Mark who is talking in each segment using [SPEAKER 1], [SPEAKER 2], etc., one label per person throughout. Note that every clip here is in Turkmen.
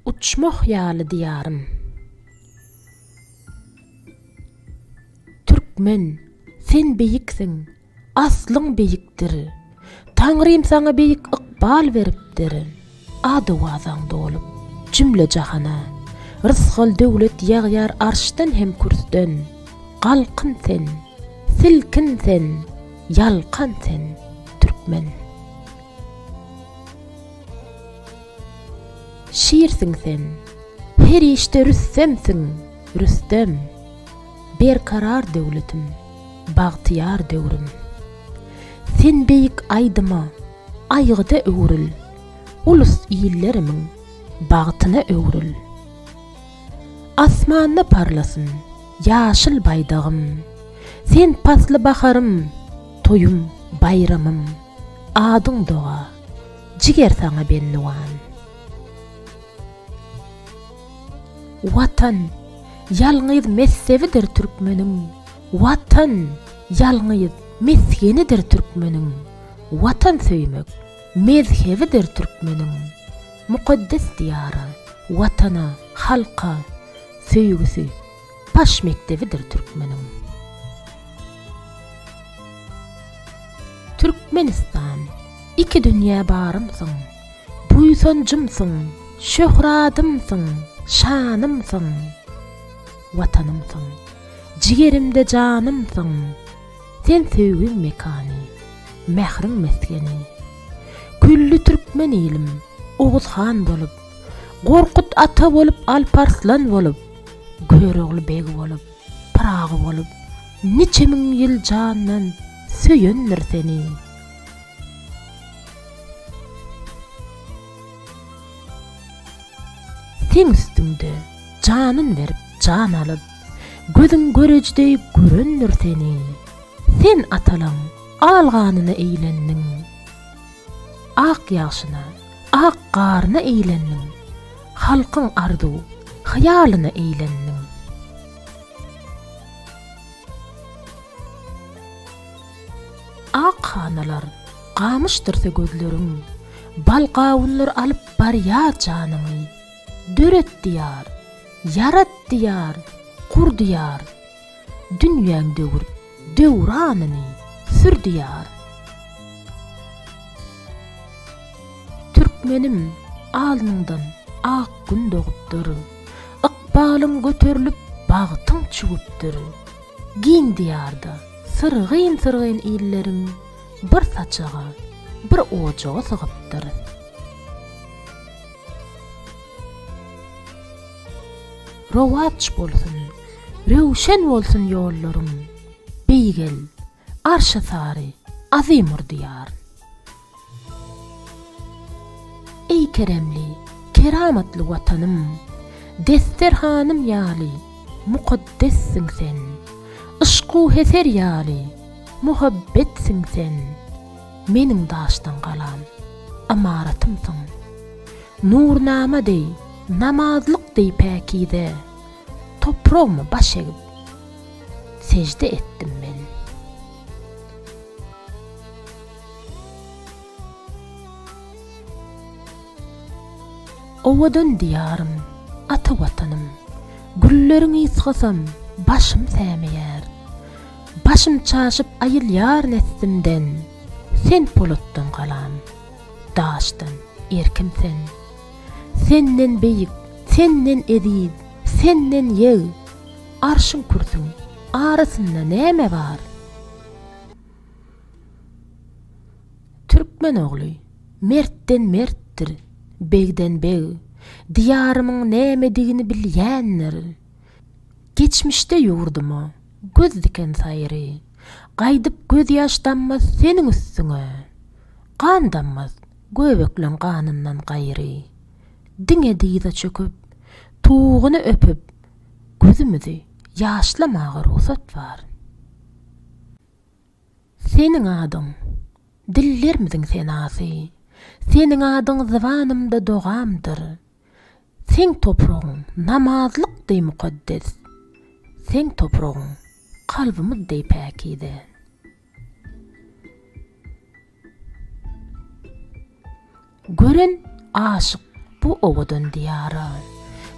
[SPEAKER 1] Uçmah ýaly diýarym. Türkmen, sen beýiksiň, aslyň beýikdir. Taňrym saňa beýik ykbal beripdir. Ad-owazaň dolup, jümle-jahana. Rysgal-döwlet ýagýar arşdan hem kürsden. Galkyn sen, silkin sen, ýalkan sen, türkmen! Şirsiň sen, her işde rüstemsiň, rüstem! Berkarar döwletim, bagtyýar döwrüm! Sen beýik aýdyma, aýgyda öwrül, ulus-illerimiň bagtyna öwrül! Asmanda parlasyn ýaşyl baýdagym, sen pasly baharym, toýum, baýramym, adyň doga! Jiger saňa bendiwan. Watan, ýalňyz messewidir türkmeniň, Watan, ýalňyz mesgenidir türkmeniň, Watan söýmek, mezhebidir türkmeniň, Mukaddes Diýara, Watana, halka, söýgüsi, Baş mekdebidir türkmeniň. Türkmenistan, iki dünýä barymsyň, Buýsanjymsyň, şöhradymsyň, şanymsyň, Watanymsyň, jigerimde janymsyň, Sen söýgiň mekany, mähriň mesgeni. Külli türkmen ilim, Oguz han bolup, Gorkut ata bolup, Alp Arslan bolup, Görogly beg bolup, Pyragy bolup, Niçe müň ýyl jandan Söýendir seni. Seň üstüňde janyn berip, jan alyp, Gözüň göreji deý görendir seni. Sen atalaň al ganyna eýlendiň. Ak ýagşyna, ak garyna eýlendiň, Halkyň arzuw, hyýalyna eýlendiň. Ak hanalar gamyşdyrsa gözleriň, Bal gawunlar alyp barýar janyňy. Döretdi Ýar, ýaratdy Ýar, gurdy Ýar, Dünýäň döwür döwranyny sür diýar. Türkmenim, alnyňdan ak gün dogupdyr, Ykbalyň göterilip, bagtyň çüwüpdir. Giň diýarda syrgyn-syrgyn illeriň Bir saçaga, bir ojaga sygypdyr. Rowaç bolsun, röwşen bolsun ýollaryň, Beýgel, Arşa sary, Azimur diýar. Eý keremli, keramatly Watanym, Desterhanym ýaly, mukaddessiň sen, Yşk-u heser ýaly, muhabbetsin sen, Meniň daşdan galam, ymaratymsyň. Nurnama deý, namazlyk deý päkize, Topragyma baş egip, sežde etdim men. Owadan Diýarym, ata Watanym, Gülleriň ysgasam, başym sämeýär. Başym çaşyp aýylýar nessimden, Sen polatdan galam. daşdan erkim sen. Senden beýik, senden eziz, senden ýeg, Arşyň kürsüň arasynda näme bar? Türkmen ogly, mertden mertdir, begden beg, Diýarymyň nämedigini bilýändir. Geçmişde ýurduma göz diken saýry, Gaýdyp gözýaş dammaz seniň üstüňe. Gan dammaz, göbekleň ganyndan gaýry. Diňe dyza çöküp, tuguny öpüp, gözümizi ýaşlamaga rugsat bar. Seniň adyň, dillermiziň senasy, seniň adyň zybanymda dogamdyr. Seň topragyň namazlyk deý mukaddes, seň topragyň kalbymyz deý päkize. Gören aşyk bu owadan diýara,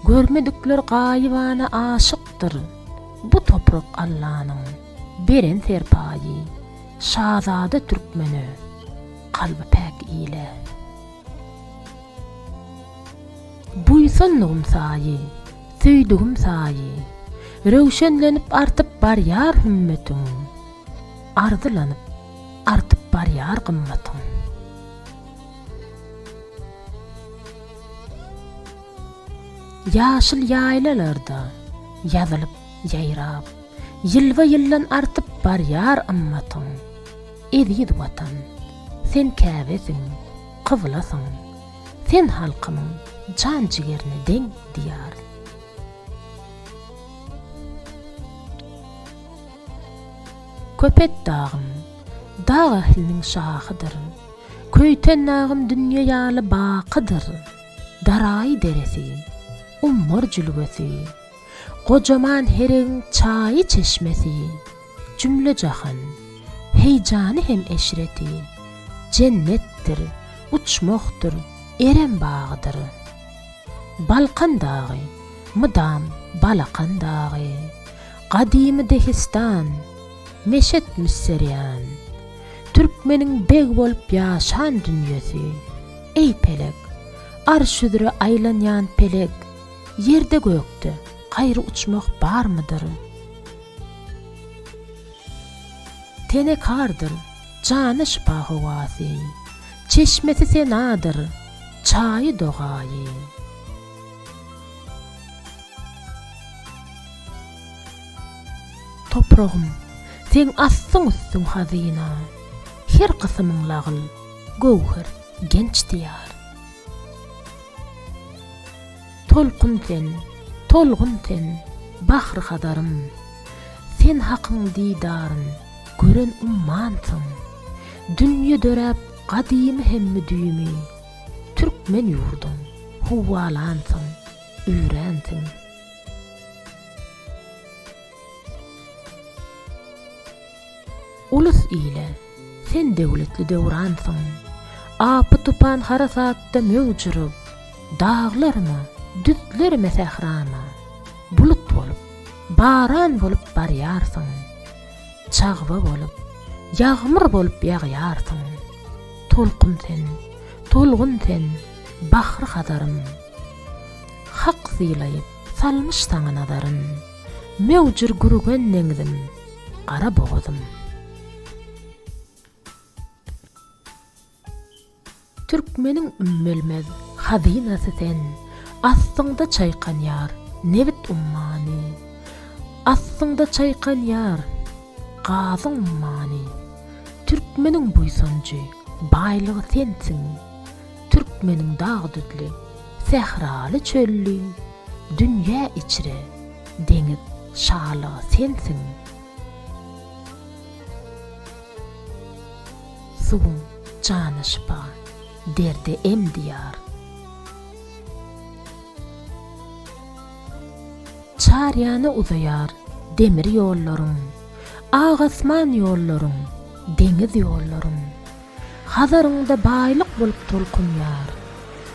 [SPEAKER 1] Görmedikler gaýybana aşykdyr. Bu toprak Allanyň beren serpaýy, Şazada türkmene, kalby päk ile. Buýsandygym saýy, söýdügim saýy, Röwşenlenip artyp barýar hümmetiň. Arzylanyp, artyp barýar gymmatyň. Ýaşyl ýaýlalarda ýazylyp, ýaýrap. Ýylba-ýyldan artyp barýar ymmatyň. Eziz Watan, sen Käbesiň, kyblasyň. Sen halkymyň jan-jigerine deň Diýar. Köpet dagym, dag ähliniň şahydyr, Köýten dagym dünýe ýaly bakydyr. Daraý deresi, ummar jülgesi, Gojaman heregiň çaýy çeşmesi, Jümle-jahan heýjany hem eşreti, Jennetdir, uçmakdyr, Erem bagydyr. Balkan dagy, mydam balakan dagy, Gadymy Dehistan, meşet müsserýan, Türkmeniň beg bolup ýaşan dünýesi, Eý pelek, arş üzre aýlanýan pelek, Ýerde-gökde gaýry uçmak barmydyr? Tenekardyr. Jana şypa howasy. Çeşmesi senadyr, çaýy dogaýy. Topragym, seň astyň-üstüň hazyna. Her kysymyň lagyl, göwher, genç diýar. Tolkun sen, tolgun sen, bahry Hazarym, Sen Hakyň didaryn gören ummansyň. Dünýe döräp gadymy hem müdimi, Türkmen ýurduň huwalansyň, öränsiň. Ulus ile, sen döwletli döwransyň. Apy-tupan harasatda möwjürip, Daglaryma, düzlerime, sährama, Bulut bolup, baran bolup barýarsyň. Çagba bolup, ýagmyr bolup ýagýarsyň. Tolkun sen, tolgun sen, bahry-hazarym. Hak sylaýyp salmyş saňa nazaryn. Möwjür gürgen deňzim, gara bogazym. Türkmeniň ümmülmez hazynasy sen, Astyňda çaýkanýar nebit ummany, Astyňda çaýkanýar gazyň ummany. Türkmeniň buýsanjy, baýlygy sensiň, Türkmeniň dag-düzli, sähraly-çölli, Dünýä içre, deňiz şalygy sensiň. Suwuň jana şypa, derde em diýar. Çar ýana uzaýar demir ýollaryň, Ak asman ýollaryň, deňiz ýollaryň. Hazaryňda baýlyk bolup tolkunýar,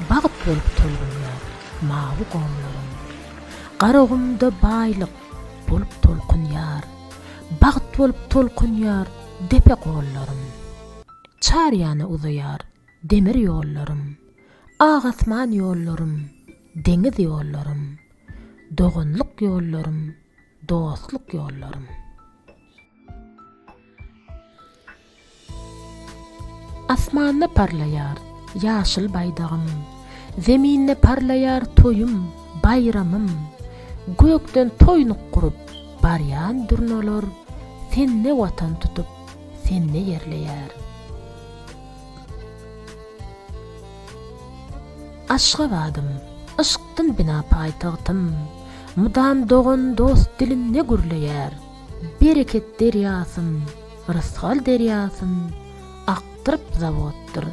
[SPEAKER 1] bagt bolup tolgunýar mawy gomlaryň. Garagumda baýlyk bolup tolkunýar, bagt bolup tolkunýar depe gollarym. Çar ýana uzaýar demir ýollarym, ak asman ýollarym, deňiz ýollarym, doganlyk ýollarym, dostluk ýollarym. Asmanda parlaýar ýaşyl baýdagym, Zeminde parlaýar toýum, baýramym. Gökden toýnuk gurup, barýan durnalar, Sende watan tutup, sende ýerleýär. Aşgabadym, yşkdan bina paýtagtym, Mydam dogan-dost dilinde gürleýär. Bereket derýasym, Rysgal derýasyn akdyryp zawoddyr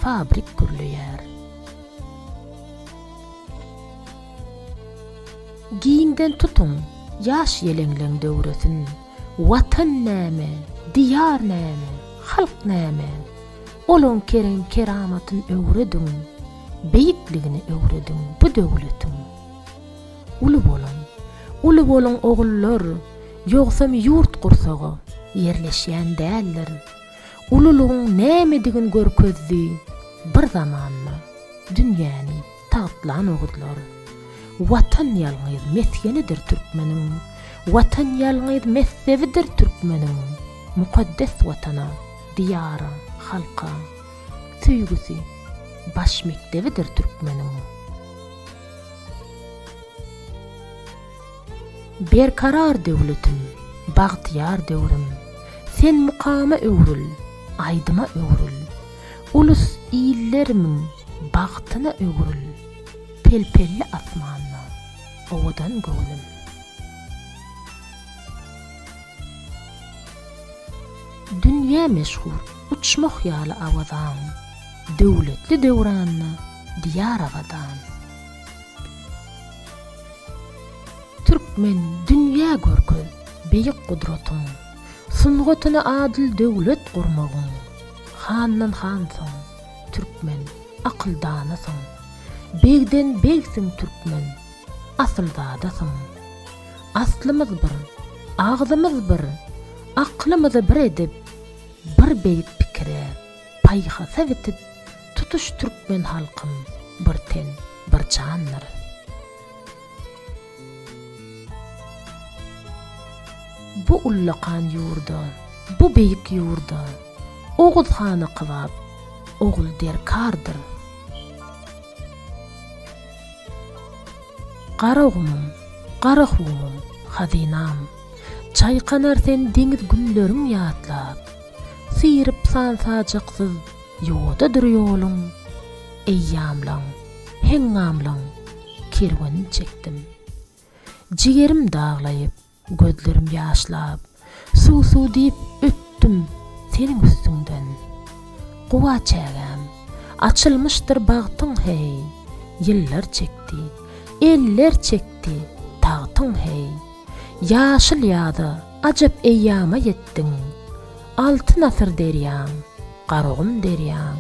[SPEAKER 1] fabrik gürleýär. Giňden tutuň ýaş ýeleňleň döwresin, Watan näme, Diýar näme, Halk näme? Olaň kerem keramatyn öwrediň, Beýikligini öwrediň bu döwletiň. Uly boluň, uly boluň ogullar, ýogsam ýurt gursaga ýerleşýän däldir. Ululygyň nämedigini görkezdi bir zamanda dünýäni tagtlan oguzlar. Watan ýalňyz mesgenidir türkmeniň, Watan ýalňyz meszebidir türkmeniň, Mukaddes Watana, Diýara, halka söýgüsi baş mekdebidir türkmeniň. Berkarar döwletim, bagtyýar döwrüm, Sen mukama öwrül, aýdyma öwrül, Ulus, illerimiň bagtyna öwrül, Pel-pelli asmanda owadan göwnüm. Dünýä meşhur uçmak ýaly awazaň, Döwletli döwranda Diýar Abadan. Türkmen, dünýä görkez beýik gudratyň, Sungatyny adyl döwlet gurmagyň. Handan hansyň, türkmen, akyldanasyň, Begden begsiň, türkmen, asylzadasyň. Aslymyz bir, agzymyz bir, Aklymyzy bir edip, Bir beýik pikire, paýhasa bitip, Tutuş türkmen halkym bir ten, bir jandyr. Bu ullakan ýurda, bu beýik ýurda Oguz hana kybap ogul derkardyr. Garagumym, Garahumym, hazynam, Çaýkanar sen deňiz günleriň ýatlap, Syryp san-sajaksyz Ýodadyr ýoluň, eýýamlaň, heňňamlaň kerwenini çekdim. Jigerim daglaýyp, gözlerim ýaşlap, suw-suw diýip ötdüm seniň üstüňden. Guba çägäm, açylmyşdyr bagtyň heý, ýyllar çekdi, eller çekdi tagtyň heý. Ýaşyl ýaza, ajap eýýama ýetdiň. Altyn asyr derýaň, Garagum derýaň,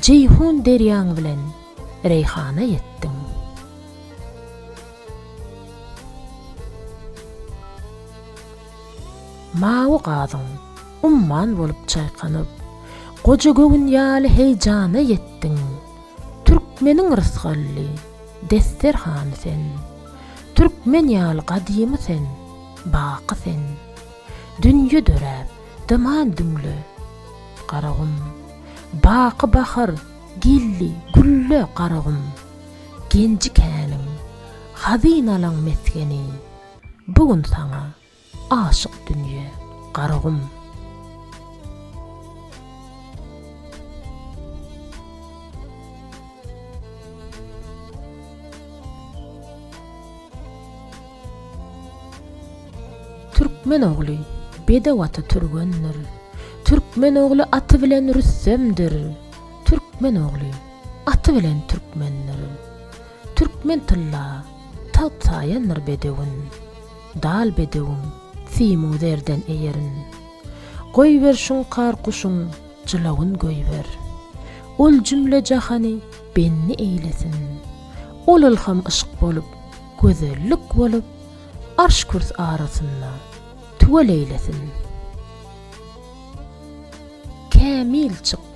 [SPEAKER 1] Jeýhun derýaň bilen Reýhana ýetdiň. Mawy gazyň, umman bolup çaýkanyp, Goja göwün ýaly heýjana ýetdiň. Türkmeniň rysgally desterhany sen, Türkmen ýaly gadymy sen, baky sen. Dünýe döräp, dyman düňle, Garagum. Baky bahar geldi, gülle, Garagum. Genji-käniň, hazynalaň mesgeni, Bu gün saňa Aşyk dünýe, Garagum. Türkmen ogly, bedew aty türgendir, Türkmen ogly aty bilen rüstemdir, Türkmen ogly, aty bilen türkmendir, Türkmen tylla, tagt saýandyr bedewin. Dal bedewim, simu zerden eýerin. Goýber şuňkar guşuň jylawyn goýber. Ol jümle jahany benni eýlesin. Ol ylham yşk bolup, gözellik bolup, Arş-kürs arasynda tüweleýlesin. Kämil çyk,